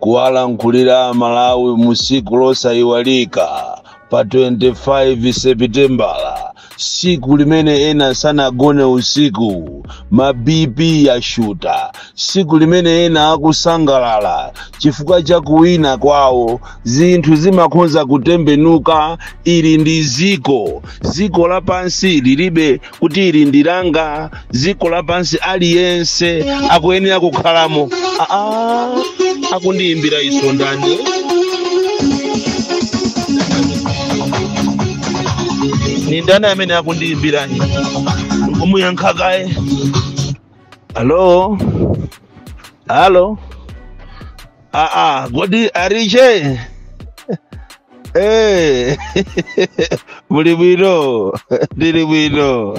kuwalankhulira aMalawi mu tsiku losayiwalika pa 25 sepitembala tsiku limene ena sanagone usiku ma bp yashuta siku limene ena akusangalala chifukwa cha kuwina kwawo zinthu zimakhoza kutembenuka ili ndi dziko dziko lapansi lilibe kuti ili ndi langa dziko lapansi aliyense akuyenera kukhalamo aa akundiyimbira foni ndani ni ndani amene akundiyimbirani ndikumuyankha kaye Halo, halo, ah, ah, kodi Alice Eh, muli bwino ndili bwino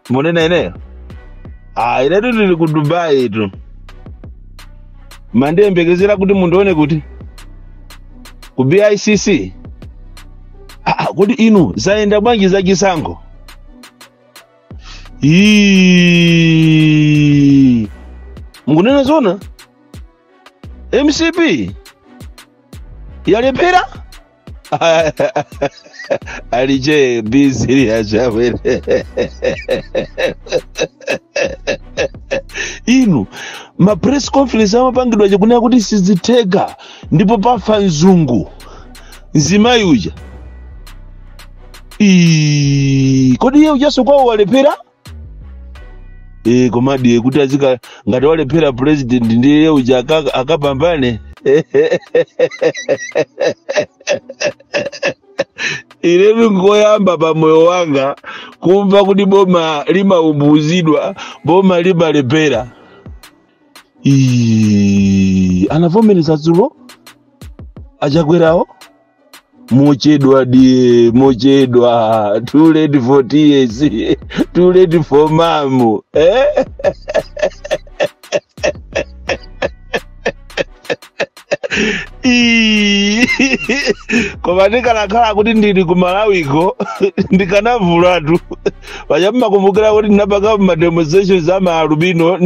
munena nenani ah, inetu ndili ku Dubaitu mandiyembekezera kuti mundione kuti ku BICC ah, ah, kodi inu zayenda bwanji za chisankho Iiii. mukunena zona mcp yalephera Alice busy yachabe inu ma press conference amapangidwa aja kunena kuti sizitheka ndipo pafa mzungu mzimayi uja Ii, kodi iye ujanso kwawo walephera e, komadi kuti adzitha ngati walephera president ndiye iye uja aka- akapambane ine ndingoyamba pa moyo wanga kumva kuti boma limaumbuzidwa boma limalephera Ii, anavomereza dzulo achakwerawo mochedwa dear mochedwa too late for tears too late for mamu eh? Ii. koma ndikanakhala kuti ndili ku Malawiko ndikanavulatu paja mmakumbukira kuti ndinapanga ma demonstrations a ma alubino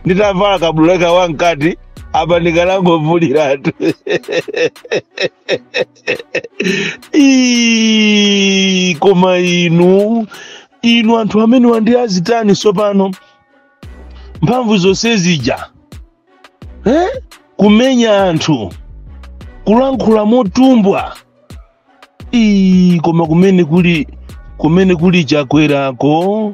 nditavala kabudula wamkati apa ndikanangovuliratu Ii, koma inu inu anthu amene wanji achitanji tsopano mphamvu zonse zija eh? kumenya anthu kulankhula motumbwa Ii, koma kumene kuli kumene kuli Chakwerako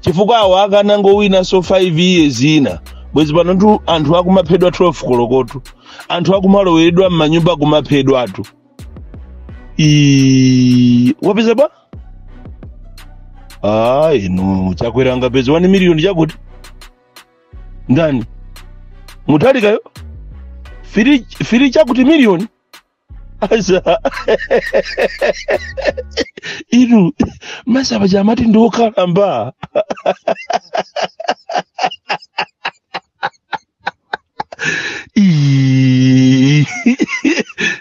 chifukwa awo akanangowinanso 5 years ina bwezi panotu anthu akumaphedwa 12 kolokotu anthu akumaloweredwa m'manyumba kumaphedwatu Ii, wapeza ba ah inu chakwera angapeza 1 miliyoni chakuti ndani mutalikayo fili chakuti miliyoni asa inu paja amati ndi okalamba Ii.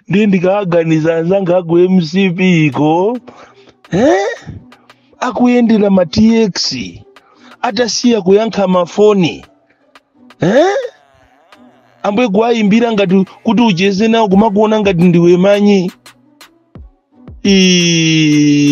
ndiye ndikaganiza anzanga aku mcp iko eh? akuyendera ma tx atasiya kuyankha mafoni eh? ambuye kuwayimbira ngati kuti ucheze nawo kumakuona ngati ndiwe manyi Ii.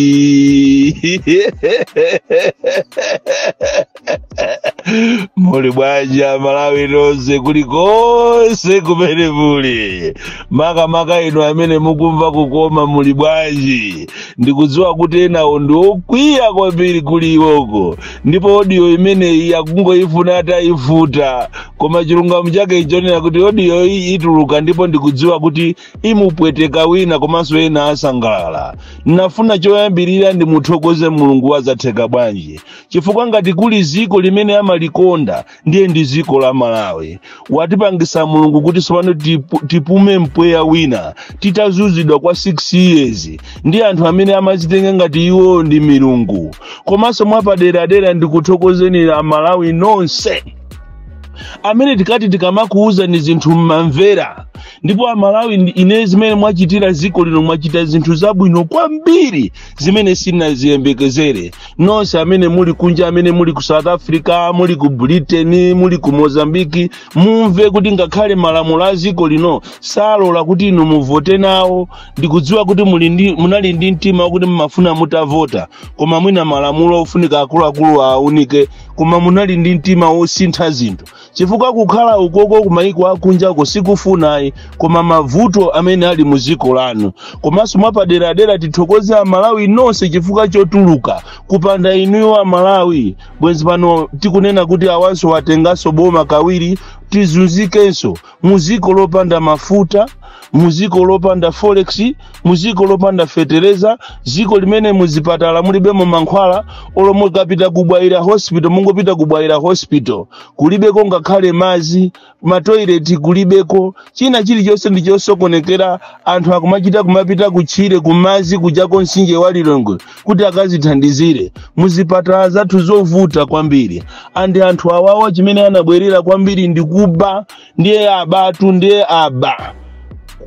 muli bwanji amalawi nonse kulikonse kumene muli makamaka inu amene mukumva kukoma muli bwanji ndikudziwa kuti enawo ndi okwiya kwambiri kuli iwoko ndipo odiyo imeneyi akungoifuna ataifufuta koma chilungamo chake ichonera kuti odiyo iyi ituluka ndipo ndikudziwa kuti imupweteka wina komanso ena asangalala nafuna choyambirira ndimuthokoze mulungu wazatheka bwanji chifukwa ngati kuli ziko limene amalikonda ndiye ndi dziko la malawi watipangisa mulungu kuti tsopano tipume mpweya wina titazuzidwa kwa 6 years ndi anthu amene amazitenga ngati iwo ndi milungu komanso mwapaderadera ndikuthokozeni amalawi nonse amene tikati tikamakuuzani zinthu mmamvera ndipo amalawi ine zimene mwachitira dziko lino mwachita zinthu zabwino kwambiri zimene sinaziyembekezere nonse amene muli kunja amene muli ku south africa muli ku britain muli ku mozambique mumve kuti ngakhale malamulo a dziko lino salola kuti inu muvote nawo ndikudziwa kuti muli munali ndi mtima wakuti mumafuna mutavota koma mwina malamulo ofunika akuluakulu aunike koma munali ndi mtima wosintha zinthu chifukwa kukhala ukoko kumayiko akunjako sikufunayi koma mavuto amene ali mu dziko lanu komanso mwapaderadera tithokoze amalawi nonse chifukwa chotuluka kupanda inuyo amalawi bwenzi pano tikunena kuti awanso watenganso boma kawiri tizunzikenso mu dziko lopanda mafuta mu dziko lopanda forex mu dziko lopanda fetereza dziko limene muzipatala mulibemo mankhwala olo mukapita ku bwaila mungopita ku bwaila hospital kulibeko ngakhale madzi matoileti kulibeko china chilichonse ndi chosokonekera anthu akumachita kumapita kutchire kumadzi kujako mtsinje wa lilongwe kuti akazithandizire muzipatala zathu zovuta kwambiri andi anthu awawa chimene anabwerera kwambiri ndi kuba ndiye abatu ndiye aba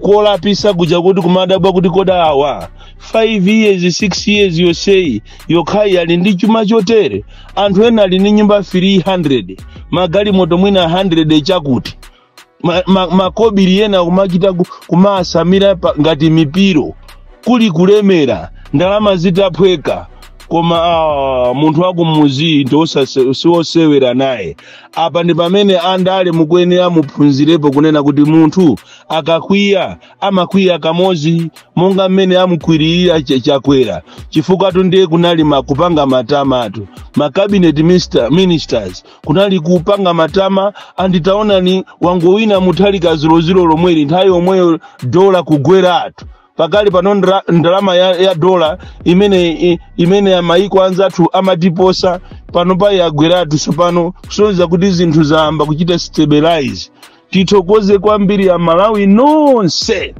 kolapisa kuja kuti kumadabwa kuti kodi awa 5 years 6 years yonseyi yokhayi ali ndi chuma chotere anthu ena ali ndi nyumba 300 magalimoto mwina 100 chakuti ma, ma, makobiri ena kumachita ku- kumasamira pa- ngati mipiro kuli kulemera ndalama zitaphweka koma ah, munthu wakumuzi ndi osase- siwosewera naye apa ndi pamene andale mukuyenera muphunzirepo kunena kuti munthu akakwiya amakwiya kamodzi monga mmene amukwirira Ch- chakwera chifukwatu ndiye kunali ma- kupanga matamatu ma cabinet minister, ministers kunali kupanga matama andi taonani wangowina mutharika dzulodzulo lomweli nthawi yomweyo dola kugweratu pakali pano ndra- ndalama ya, ya dola imene i- imene ya maiko anzathu amatiposa panopa yagweratu tsopano kusonyeza kuti zinthu zayamba kuchita stabilize tithokoze kwambiri amalawi nonse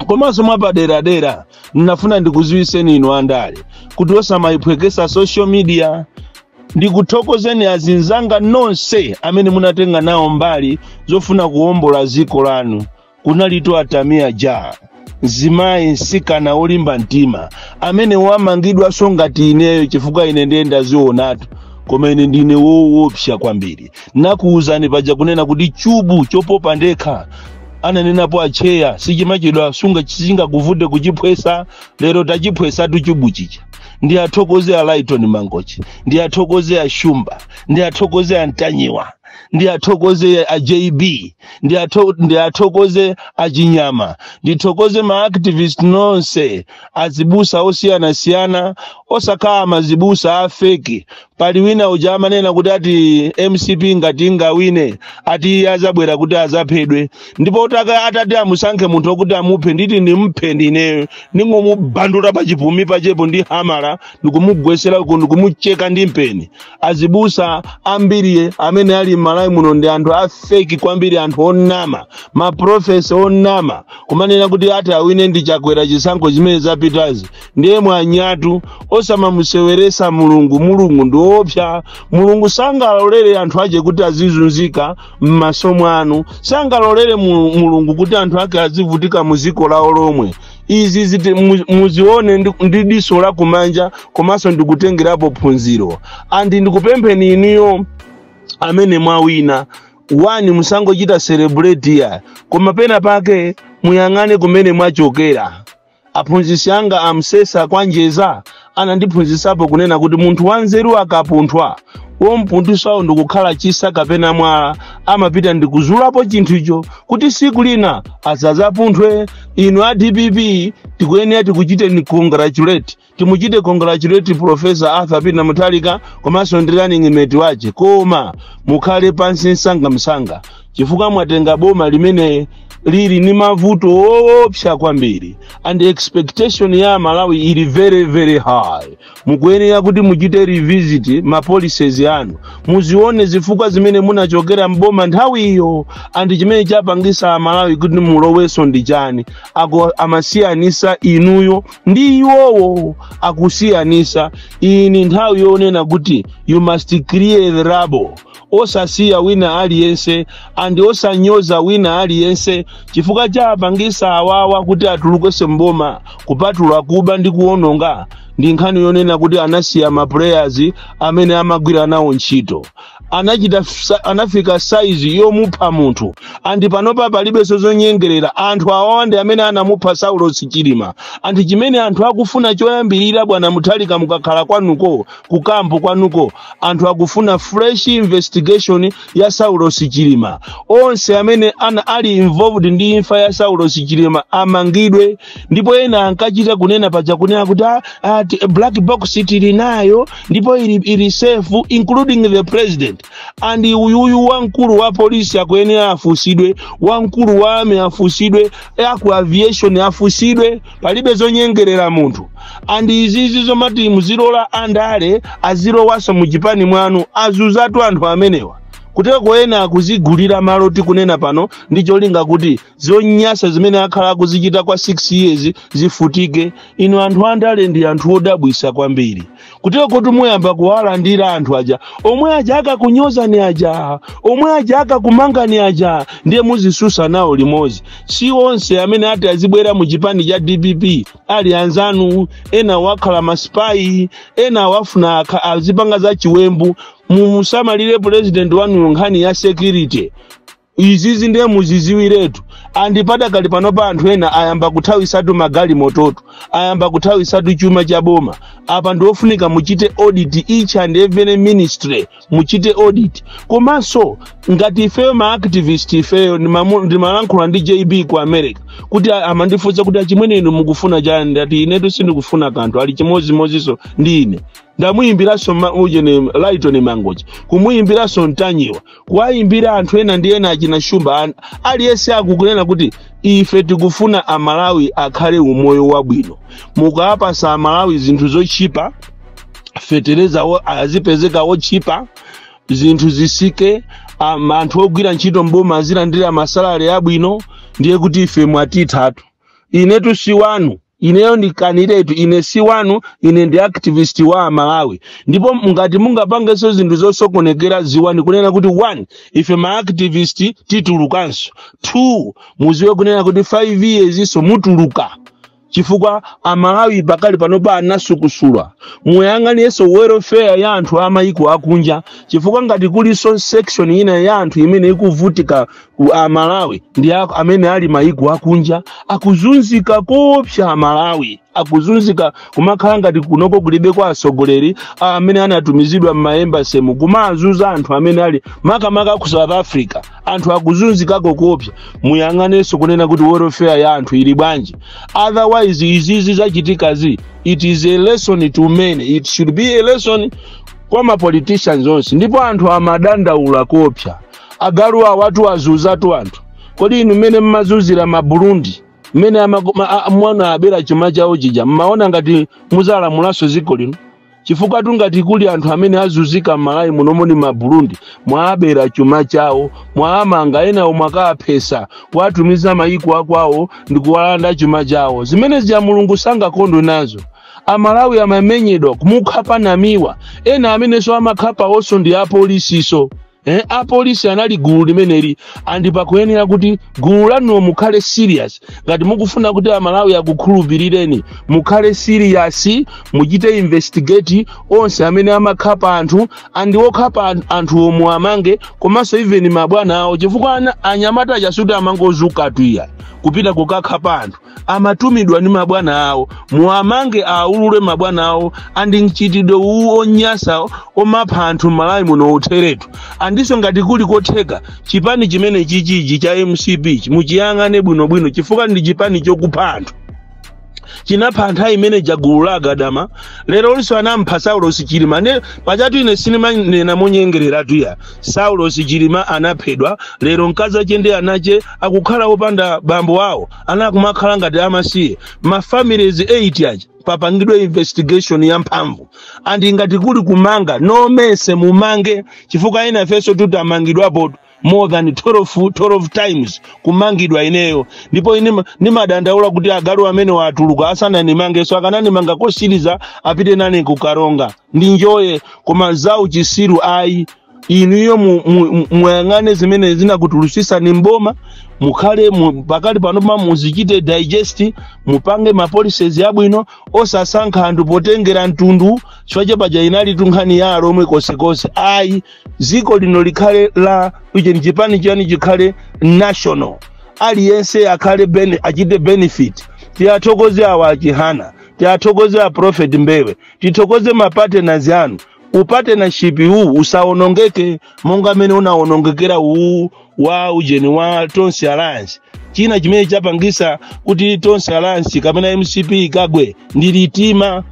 komanso mwapaderadera ndinafuna ndikuziwiseni inu andale kuti osamayiphwekesa social media ndikuthokozeni azinzanga nonse amene munatenga nawo mbali zofuna kuwombola dziko lanu kunalitu a tamia ja mzimayi msikana wolimba mtima amene wamangidwanso ngati ineyo chifukwa ine ndiye ndazionatu koma ine ndine woopsa kwambiri nakuwuzani paja kunena kuti chubu chopopa ndekha ananenapo atcheya sichimachedwa sunga- sichingakuvute kuchiphwesa lero tachiphwesatu chubu chija ndiwathokoze a lyton mangochi ndiwathokoze a shumba ndiwathokoze a ntanyiwa ndiwathokoze a jb ndiwatho- ndiwathokoze a chinyama ndithokoze maactivist nonse azibusa osiyanasiyana osakhala mazibusa a feki pali wina uja amanena kuti ati mcp ngati ingawine ati iye azabwera kuti azaphedwe ndipo utaka atati amusankhe munthu okuti amuphe nditi ndimphe ndineyo ndingomubandula pachipumi pachepo ndi hamala ndikumugwesera uku ndikumucheka ndi mpeni azibusa ambiri amene ali m'malawi muno ndi anthu afeki kwambiri anthu onama ma prophets onama kumanena kuti ati awine ndi chakwera zisankho zimene zapitazi ndiye mwanyatu osamamuseweresa mulungu mulungu ndi woopsa mulungu sangalolere anthu ache kuti azizunzika m'maso mwanu sangalolere mu- mulungu kuti anthu ake azivutika mu dziko lawo lomwe izizi muzione ndi, ndi diso la kumanja komanso ndikutengerapo phunziro andi ndikupempheni inuyo amene mwawina one musangochita celebrate ya koma pena pake muyang'ane kumene mwachokera aphunzitsi anga amsesa kwanjeza anandiphunzitsapo kunena kuti munthu wanzeru akapunthwa wompunthusawo ndikukhala chitsa kapena mwala amapita ndikuzulapo chinthucho kuti siku lina asazapunthwe inu a dpp tikuyenera tikuchiteni congratulate timuchite congratulate profesa arthur peter mutharika komanso ndi running mate wache koma mukhale pansi msangamsanga chifukwa mwatenga boma limene lili ni mavuto oopsa kwambiri and expectation ya amalawi ili very very high mukuyenera kuti muchite revisit ma policies anu muzione zifukwa zimene munachokera mboma nthawi ijayo and chimene chapangisa amalawi kuti mulowenso ndi chani a amasiyanisa inuyo ndi iwowo akusiyanisa iyi ni nthawi yonena kuti you must clear the rubble osasiya wina aliyense and osanyoza wina aliyense chifukwa chapangisa awawa kuti atulukenso mboma kupatula kuba ndi kuononga ndi nkhani yonena kuti anasiya maplayers amene amagwira nawo ntchito anafika saizi yomupha munthu andi panopa palibenso zonyengerera anthu awawa ndi amene anamupha saulos chilima andi chimene anthu akufuna choyambirira bwana mutharika mukakhala kwanuko kukampu kwanuko anthu akufuna fresh investigation ya saulos chilima onse amene ana ali involved ndi imfa ya saulos chilima amangidwe ndipo ena ankachita kunena paja kunena kuti black box tili nayo ndipo ili safe including the president and uyuyu wamkulu wa polisi akuyenera afusidwe wamkulu wa army afusidwe aku aviation afusidwe palibe zonyengerera munthu andi izizi zomati muzilola andale azilowanso mu chipani mwanu azuzatu anthu amenewa kuteroko ena akuzigulira malo tikunena pano ndi cholinga kuti zonyasa zimene akhala akuzichita kwa 6 years zifutike inu anthu andale ndi anthu odabwisa kwambiri kuterokotu muyamba kuwalandira anthu aja omwe aja akakunyozani aja omwe aja akakumangani aja ndiye muzisusa nawo limodzi si onse amene ati azibwera mu chipani cha dpp ali anzanu ena wakhala masipayi ena wafuna akha- azipanga za chiwembu musamalire pulezidenti wanu nkhani ya security izizi ndiye muziziwiretu andi padakali panopa anthu ena ayamba kuthawisatu magalimototu ayamba kuthawisatu chuma cha boma apa ndiofunika muchite audit each and every ministry muchite audit komanso ngati ifeyo ma activist ifeyo ndimamu- ndimalankhula ndi jb ku america kuti a- amandifunsa kuti achimwene inu mukufuna chani ndati inetu sindikufuna kanthu ali chimodzimodzinso ndi ine ndamuyimbiranso ma- ujeni lytton mangochi kumuyimbiranso ntanyiwa kuwayimbira anthu ena ndi ena achina shumba an- aliyense akukunena kuti ife tikufuna amalawi akhale umoyo wabwino mukawapasa amalawi zinthu zotchipa fetereza wo- azipezeka wotchipa zinthu zisike am- anthu ogwira ntchito mboma azilandira masalari abwino ndiye kuti ife mwatithatu inetu si wanu ineyo ndikaniretu ine si wanu ine ndi activist wa amalawi ndipo ngati mungapangenso zinthu zosokonekera ziwani kunena kuti one ife ma activist titulukanso two muziwe kunena kuti five years iso mutuluka chifukwa amalawi pakali panopa anasukusulwa muyang'anirenso welfare ya anthu a mayiko akunja chifukwa ngati kulinso section ina ya anthu imene ikuvutika u- a Malawi ndi a- amene ali maiko akunja akuzunzika kopsa a Malawi akuzunzika kumakhala ngati kunoko kulibeko atsogoleri a- amene anatumizidwa m'maembasemu kumazuza anthu amene ali makamaka ku South Africa anthu akuzunzikako kopsa muyang'anenso kunena kuti welfare ya anthu ili bwanji otherwise izizi zachitikazi it is a lesson to many it should be a lesson kwa mapoliticians onse ndipo anthu amadandaula kopsa agalu awotu azuzatu anthu kodi inu mmene mmazuzira maburundi mmene amako- ma- a- munaabera chuma chawo chija mmaona ngati muzalamulanso dziko lino chifukwatu ngati kuli anthu amene azuzika mmalawi munomo ndi maburundi mwaabera chuma chawo mwaamanga enawo mwakaaphesa kuwatumiza mayiko akwawo ndi kuwalanda chuma chawo zimene zija mulungu sangakondwe nazo amalawi amamenyedwa kumukhapa namiwa ena amenenso amakhapawonso ndi apolisiso eh, apolisi anali gulu limeneli andi pakuyenera kuti gulu lanuwo mukhale serious ngati mukufuna kuti amalawi akukhulupirireni mukhale serious muchite investigate onse amene amakhapa anthu andi okhapa an- anthuwo muwamange komanso even mabwana awo chifukwa ana- anyamata aja sikuti amangozuka tuya kupita kukakhapa anthu amatumidwa ndi mabwana awo muwamange aulule mabwana awo andi mchitidwe uwu onyasa omapha anthu m'malawi muno utheretu andiso ngati kuli kotheka chipani chimene chichi cha mcp muchiyang'ane bwinobwino chifukwa ndi chipani chokupha anthu chinapha nthawi imene ija gulu la agadama lero linso anampha saulosi chilima nde pajatu ine sinimanena monyengereratu ya saulosi chilima anaphedwa lero mkazi wake ndi ana ake akukhala opanda bambo awo ana akumakhala ngati amasiye ma families 8 aja papangidwe investigation ya mphamvu andi ngati kuli kumanga nonse mumange chifukwa ena ifenso tidamangidwapo more than 12, 12 times kumangidwa ineyo ndipo ine ma- ndimadandaula kuti agalu amene atuluka asananimangeso akananimanga kosiliza apite nane ku karonga ndinjoye koma zauchitsiru ayi inuyo mu- mu- mu- muyang'ane zimene zinakutulutsitsani mboma mukhale mu- pakali pano pa muzichite digest mupange ma policies abwino osasankha anthu potengera mtundu chifukwa chapaja inali tu nkhani ya alomwe konsekonse ayi dziko lino likhale la ujeni chipani chani chikhale national aliyense akhale bene, achite benefit tiyathokoze awa a chihana tiyathokoze a prophet mbewe tithokoze mapartners anu upartnership uwu usawonongeke monga mmene unawonongekera uwu wa ujeni wa tonse alliance china chimene chapangisa kuti tonse alliance kapena mcp ikagwe ndi mtima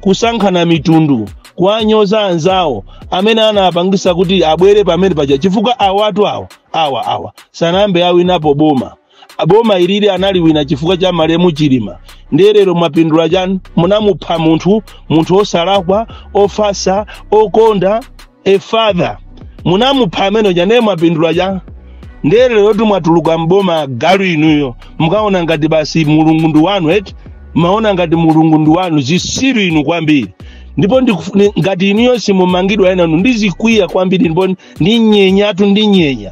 kusankhana mitundu kuwanyoza anzawo amene anapangisa kuti abwere pamene paja chifukwa awatu awa awa awa sanayambe awinapo boma boma ilili analiwina chifukwa cha malemu chilima ndiye lero mwapindula chani munamupha munthu munthu osalakwa ofatsa okonda a father munamupha amene uja ndiye mwapindula chani ndiye lero kuti mwatuluka mboma galu inuyo mukaona ngati basi mulungu ndi wanu eti maona ngati mulungu ndi wanu zitsiru inu kwambiri ndipo ndikuf- ni- ngati inuyo simumangidwa enanu ndizikwiya kwambiri ndipo ndinyenyatu ndinyenya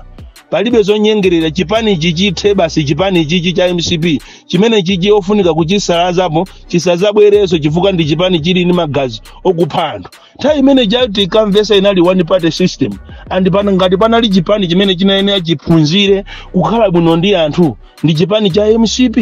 palibe zonyengerera chipani chichithe basi chipani chichi cha mcp chimene chichi ofunika kuchisalazapo chisazabwereso chifukwa ndi chipani chili ndi magazi okupha anthu nthawi imene ija tikamvetsa inali one party system and pena ngati panali chipani chimene chinayenera chiphunzire kukhala bwino ndi anthu ndi chipani cha mcp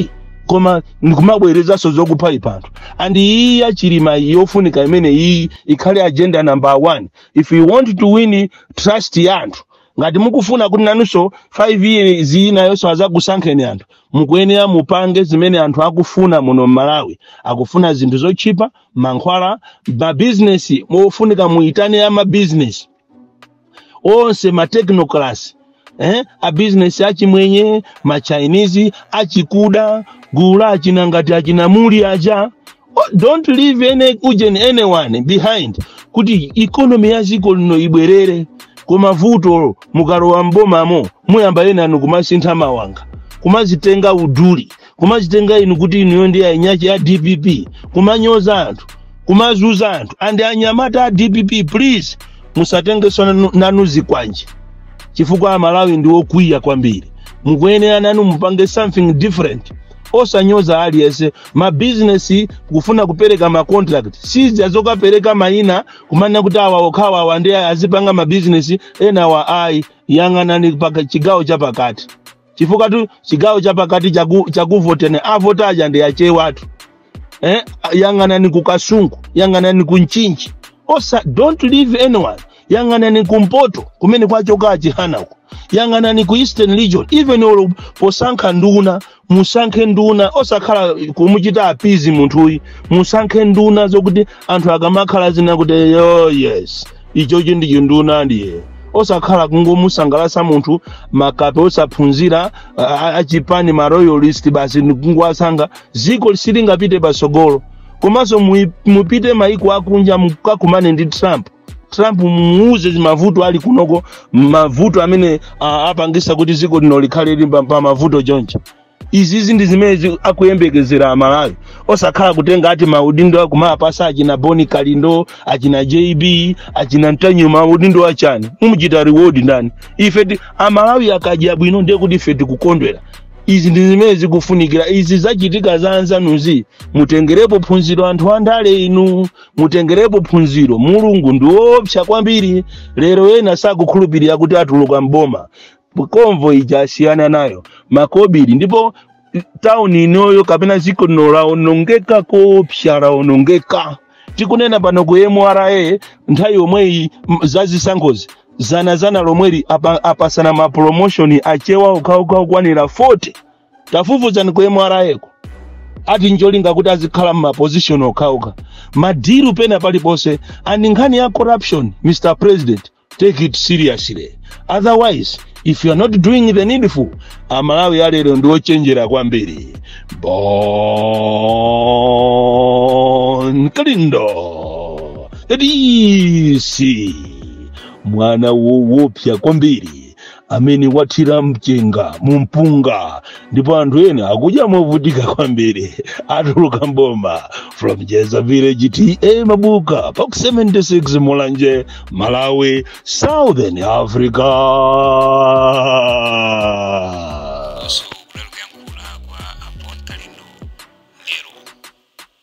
koma ndikumabwerezaso zokuphaipha anthu and iyi ya chilima yofunika imene iyi ikhale agenda number one if you want to win trust ya anthu ngati mukufuna kuti nanunso 5 years inayonso azakusankheni anthu mukuyenera mupange zimene anthu akufuna muno mmalawi akufuna zinthu zotchipa mankhwala mabizinesi mufunika muitane a mabizinesi onse matechnocrats eh? abizinesi achimwenye machinese achikuda gulu la achina ngati achina Mulli aja Oh, don't leave any ujeni anyone behind kuti economy ya dziko lino ibwerere koma vuto mukalowa mbomamo muyamba ena inu kumasintha mawanga kumazitenga uduli kumazitenga inu kuti inuyo ndi ainyachi ya dpp kumanyoza anthu kumazuza anthu and anyamata a dpp please musatengeso nanu zikwanje chifukwa amalawi ndi okwiya kwambiri mukuyenera nanu mupange something different osanyoza aliyense mabizinesi kufuna kupereka macontract si za zokapereka mayina kumana kuti awa okhawa awa nde azipanga mabizinesi enawa ayi yang'anani pa ka chigawo chapakati chifukwatu chigawo chapakati chaku- chakuvoteni avota aja nde achewatu eh? yang'anani ku kasungu yang'anani ku mchinji osa don't leave anyone yang'anani kumpoto kumene kwachoka achihana uko yang'anani ku eastern region even olo posankha nduna musankhe nduna osakhala kumuchita appease munthuyi musankhe nduna zokuti anthu akamakhala azinena kuti yo yes ichochi ndi chinduna ndiye osakhala kungomusangalasa munthu makape osaphunzira a- a- achipani ma loyalist basi ndikungowasankha ziko silingapite pasogolo komanso muyi- mupite maiko akunja mukakumane ndi trump trump mumuuze za mavuto ali kunoko mavuto amene ah, apangisa kuti dziko lino likhale lili pa- pa mavuto choncho izizi ndi zimene zi- akuyembekezera amalawi osakhala kutenga ati maudindo kumapasa achina bon kalindo achina jb achina ntanyiwa maudindo achani mumuchita reward ndani ife ti- amalawi akadya bwino ndiye kuti ife tikukondwera izi ndi zimene zikufunikira izi zachitika za anzanuzi mutengerepo phunziro anthu andale inu mutengerepo phunziro mulungu ndi woopsa kwambiri lero ena sakukhulupirira kuti atuluka mboma convoy ija asiyana nayo makobiri ndipo tauni inoyo kapena dziko lino laonongeka koopsa laonongeka tikunena pano ku mra nthawi yomweyi m- za zisankhozi zanazanali lomweli apa- apasana mapromoshoni achewa okhaokha okwanira 40 tafufuzani ku mra ko ati ncholinga kuti azikhala m'mapozishon okhauka madilu pena paliponse and nkhani ya corruption mr president take it seriously otherwise if you are not doing the needful amalawi alero ndi ochenjera kwambiri bon kalindo dc mwana woopsa kwambiri amene wathira mchenga mu mpunga ndipo anthu ena akudya movutika kwambiri atuluka m'boma from jeza village ta mabuka park 76 mulanje malawi southern africa